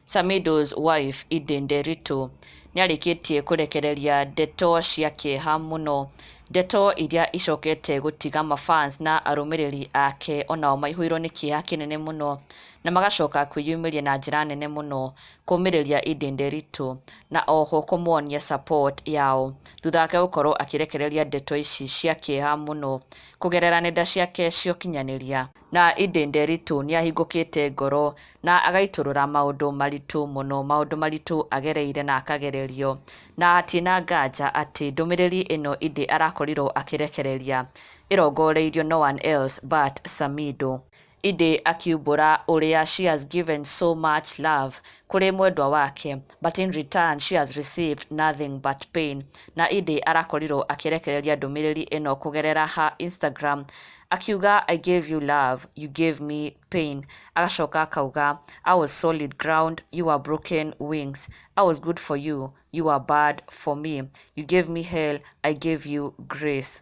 Samido's wife Ide Nderitu nĩarĩkĩtie kũrekereria ndeto cia kĩeha mũno ndeto iria icokete gũtiga mafans na arũmĩrĩri ake onao maihũirwo nĩ kĩeha kĩnene mũno na magacoka kwĩyumĩria na njĩra nene mũno kũmĩrĩria Ide Nderitu na oho kũmuonia support yao thutha wake gũkorwo akĩrekereria ndeto ici cia kĩeha mũno kũgerera nenda ciake cia ũkinyanĩria. Na ĩndĩ Nderitu nĩahingũkĩte ngoro na agaitũrũra maũndũ maritũ mũno, maũndũ maritũ agereire na akagererio, na hatirĩ na nganja atĩ ndũmĩrĩri ĩno ĩndĩ arakorirwo akĩrekereria ĩrongoreirio no one else but Samido. Ĩndĩ akiumbũra ũrĩa she has given so much love kũrĩ mwendwa wake, but in return she has received nothing but pain, na ĩndĩ arakorirwo akĩrekereria ndũmĩrĩri ĩno kũgerera her Instagram akiuga I gave you love, you gave me pain, agacoka akauga I was solid ground, you were broken wings, I was good for you, you were bad for me, you gave me hell, I gave you grace.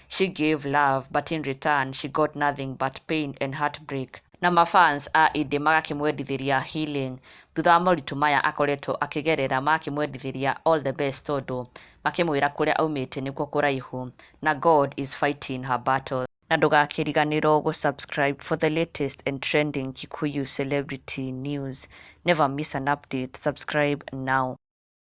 She gave love but in return she got nothing but pain and heartbreak. Na ma fans a Ĩndĩ magakĩmwendithĩria healing thutha wa moritũ maya akoretwo akĩgerera magakĩmwendithĩria all the best tondũ makĩmwĩra kũrĩa aumĩte nĩkuo kũraihu na God is fighting her battles. Na ndũgakĩriganĩrwo gũ subscribe for the latest and trending Kikuyu celebrity news. Never miss an update, subscribe now.